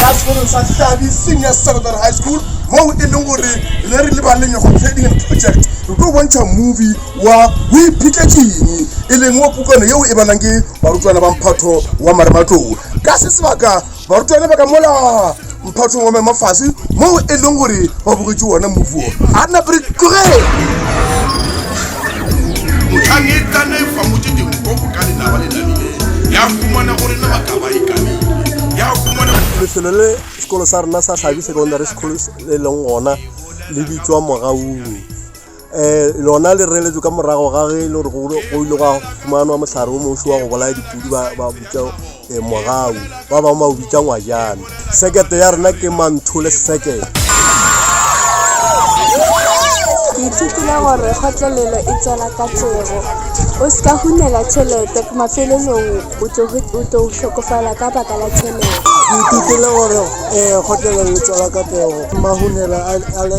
ka sekolong sa hlabi senior secondary high school moo e leng gore re re lebaleng ya go trading and project re tlo bontšha movie wa o iphetletšeng e leng wa pukana yeo e balwang ke barutwana ba mphatho wa marematlou ka se sebaka barutwana ba ka mola mphathong wa maemo fase moo e leng gore ba bogetše wona movuo a nna pre tlogele otlhanetanefa moteteng o go ka lenaba le namile ya fumana gore na ba ka ba e kamile ya fumana lefelo le sekolo sa rena sa tlhabi secondary school e leng gona le bitswa mogaung um lona le reletšwe ka morago ga ge e le gore go ile gwa fumanwa mohlare o moso wa go bolaya dipudi ba bitša um eh, mogau ba bangwe ba o bitša ngwajana sekete ya rena ke manthole sekete ke ithutile gore kgotlelelo e tswela ka tsebo o se ka hunela tšhelete mafelelong o tlo tlhokofala ka baka la tšhelete ke ithutile gore um kgotlelelo e tswela ka tsebo mahunela a le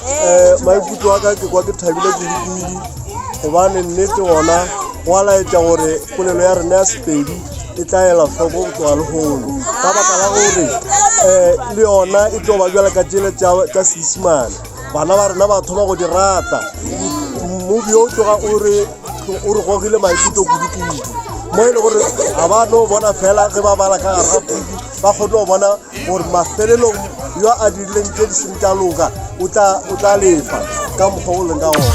um maikutlo a ka ke kwa ke thabile kudu-kudu gobane nnete gona go a laetša gore polelo ya rena ya sepedi e tla ela hloko go tloga lehono ka baka la gore um le yona e tlo ba bjala ka tsela tša seisimane bana ba rena ba thoma go di rata mobi o tloga o re o re gogile maikutlo kudu-kudu mo e le gore ga ba no bona fela ge ba bala ka gare ga kudu ba kgone go bona gore mafelelong yo a dirileng tše di seng tša loka o tla, o tla lefa ka mokgwa o leng ka gona